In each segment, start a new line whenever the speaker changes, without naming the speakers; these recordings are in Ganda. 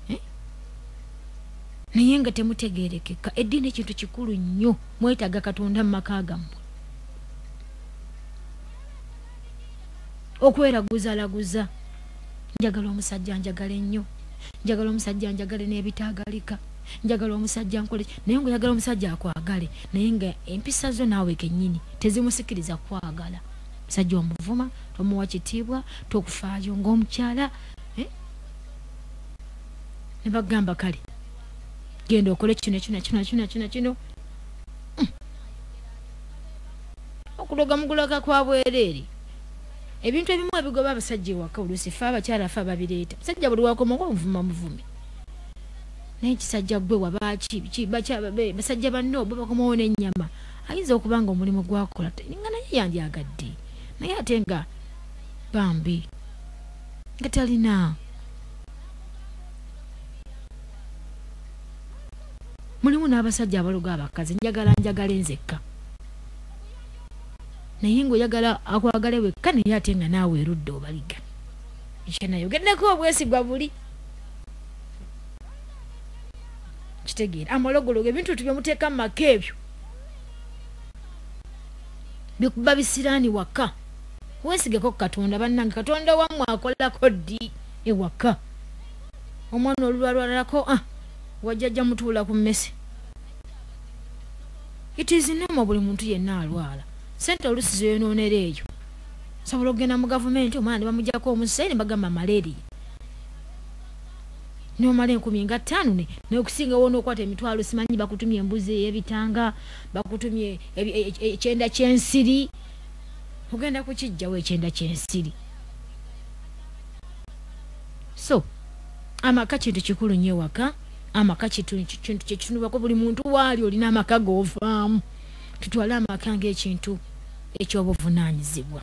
eh? naye nga temutegerekeka eddiini ekintu kikulu nnyo mwetaaga katonda mu maka gammwe okweraguzalaguza njagala omusajja njagala ennyo njagala omusajja njagale n'ebitaagalika njagala omusajja nkole naye nga oyagala omusajja akwagale naye nga empisa zo naawe kennyini tezimusikiriza kwagala musajja omuvuma tomuwa kitiibwa tokufaayo ng'omukyala eh? ne bagamba kale genda okole kino kino kino kino kino kino hmm. okuloga mugulaga kwa bwereere ebintu ebimu ebigoba abasajja ewaka oluusi fe abakyala fe ababireeta musajja buli wakomaga omuvuma muvumi naye kisajja gwe wabaaki basajja banno bo bakomawo n'ennyama ayinza okuba nga omulimu gwakola nga naye yandyagadde naye ate nga bambi nga talina mulimu n'abasajja abaloga abakazi njagala njagale nzekka naye ngaoyagala akwagale wekka naye ate nga naawe erudde obaliga ekyenayogeddeko obwesigwa buli kitegeera amalogologo ebintu etu byemuteeka mu maka ebyo bikuba bisiraani waka wesigeko katonda banange katonda wamwe akolako ddi ewaka omwana olulwalwalalako ah, wajjajja mutuula ku mmese it is normal buli muntu yenna alwala sente olusi zeyonoonera eyo sobola okugenda mu gavumenti omwana ne bamujako omusai ne bagamba malaria nomala enkumi nga ttaano nokusinga wona okwata emitwalo simanyi bakutumye embuzi eyebitanga bakutumye e, e, e, ekyenda kyensiri ogenda kukijjawo ekyenda kyensiri so amaka kintu kikulu nyo ewaka amaka kintu kyekitunubako buli muntu waali olina amaka govaamu tutwale amaka ngaekintu ekyobuvunanyizibwa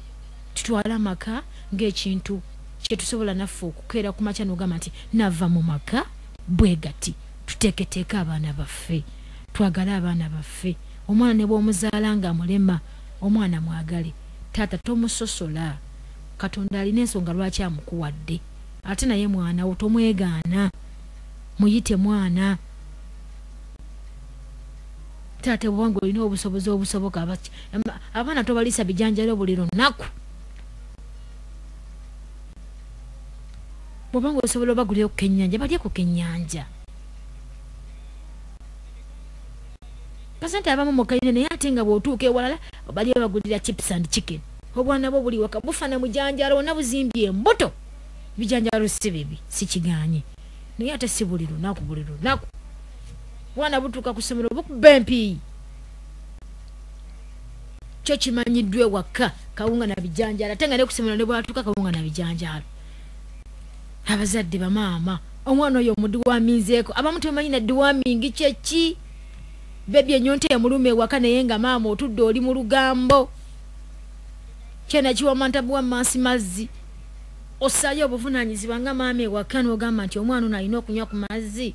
tutwale amaka ngaekintu kyetusobola naffe okukeera ku makya nogamba nti nava mu maka bwegati tuteeketeeka abaana baffe twagale abaana baffe omwana nebwomuzaala nga mulema Omwana mwagale. Taata tomusosola. Katonda alina ensonga lwaki amukuwadde. Ate naye mwana wo tomwegaana. Muyite mwana. Taata bwoba nga olina obusobozi obusoboka abaana tobalisa bijanjalo buli lunaku. Bwoba nga osobola obagulira ku kenyanja balye ku kenyanja. Pasente abamu mu kalina naye ate nga bw'otuuka ewalala bali babagulira chips and chicken. Obwana bwo buli waka bufa na mujanjaalo wonna buzimbye embuto. Ebijanjaalo si bibi sikigaanye naye ate si buli lunaku buli lunaku. Obwana butuuka ku ssomero bukuba empiiyi. Kyo kimanyiddwa ewaka kawunga na bijanjaalo ate nga ne ku ssomero ne bwatuuka kawunga na bijanjaalo. Abazadde bamaama. omwana oyo omudiwaminzeeko abamu tebamanyi na diwamingi kyeki bebi enyonta emuluma ewaka naye nga maama otudde oli mu lugambo kyena kiwamantabuwa mansi mazzi osaayo obuvunanyizibwa nga maama ewaka nogamba nti omwana ono alina okunywa ku mazzi